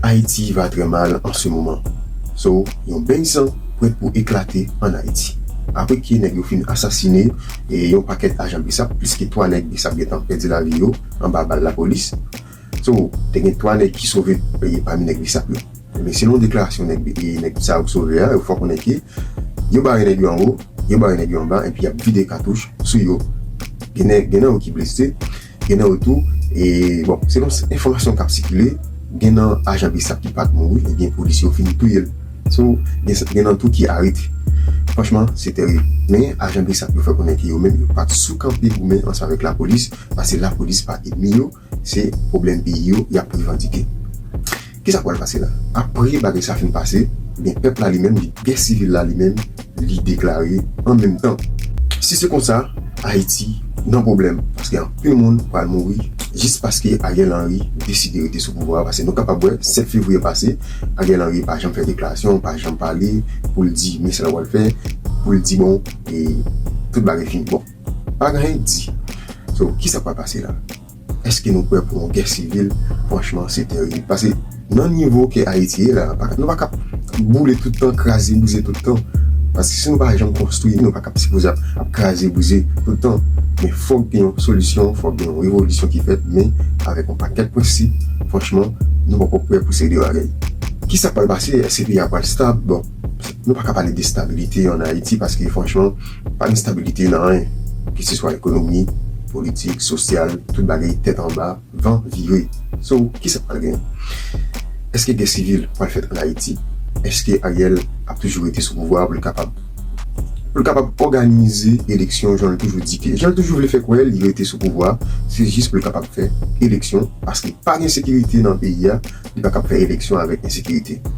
Ayiti va trè mal an se moman. So yon beny san prèt pou eklate an Ayiti. Apre ke nèg yo fin asasine yon pakèt ajan bsap, plis ke 3 nèg bsap gentan pèdi lavi yo anba bal lapolis. So te gen 3 nèg ki sove pami nèg bsap yo. Ebyen selon deklarasyon nèg sa yo ki sove a, yo fè w konnen ke yo bare nèg yo anwo, yo bare nèg yo anba epi yap vide katouch sou yo. Gen nan yo ki blese. Gen nan yo tou, e bon, selon enfòmasyon k ap sikile, gen nan ajan bsap ki pa t mouri ebyen polisye yo fin touye l. So, gen nan tou ki arete. Franchman, se terib. Men, ajan bsap yo fè konnen ke yo menm yo pa t sou kanpe goumen ansanm avèk lapolis, paske lapolis pa enmi yo, se pwoblèm peyi yo y ap revandike. Kisa k pral pase la? Apre bagay sa fin pase, ebyen pèp la li menm, li gè sivil la li menm, li deklare an menm tan. Si se konsa, Ayiti nan pwoblèm, paske anpil moun pral mouri jis paske Ariel Henry deside rete sou pouvwa a, paske nou kapab wè 7 fevriye pase, Ariel Henry pa janm fè deklarasyon, pa janm pale pou l di men sa l pral fè, pou l di bon e tout bagay fini. Bon, pa gen anyen k di. So, kisa k pral pase la? Eske nou prè pou yon gè sivil franchman se terib pase nan nivo ke ayiti ye la nou pa kap boule tout tan kraze brize tout tan pase si nou pa janm konstwi nou pa kap sipoze ap kraze brize tout tan men fok gen yon solisyon fok gen yon revolisyon ki fèt men avèk yon pakèt prensip franchman nou poko prè pou seri de bagay ki sak pral pase eske peyi a pral stab bon nou pa ka pale de stabilite an ayiti paske franchman. Pa gen stabilite nan anyen, keseswa ekonomi, politik, sosyal, tout bagay tèt anba, van vire. So, kisa k pral genyen? Èske gè sivil pral fèt ann Ayiti? Èske Ariel ap toujou rete sou pouvwa a pou l kapab pou l kapab òganize eleksyon jan l toujou di ke jan l toujou vle fè kwè li rete sou pouvwa a se jis pou l kapab fè eleksyon paske pa gen sekirite nan peyi a li pa kab fè eleksyon avèk ensekirite.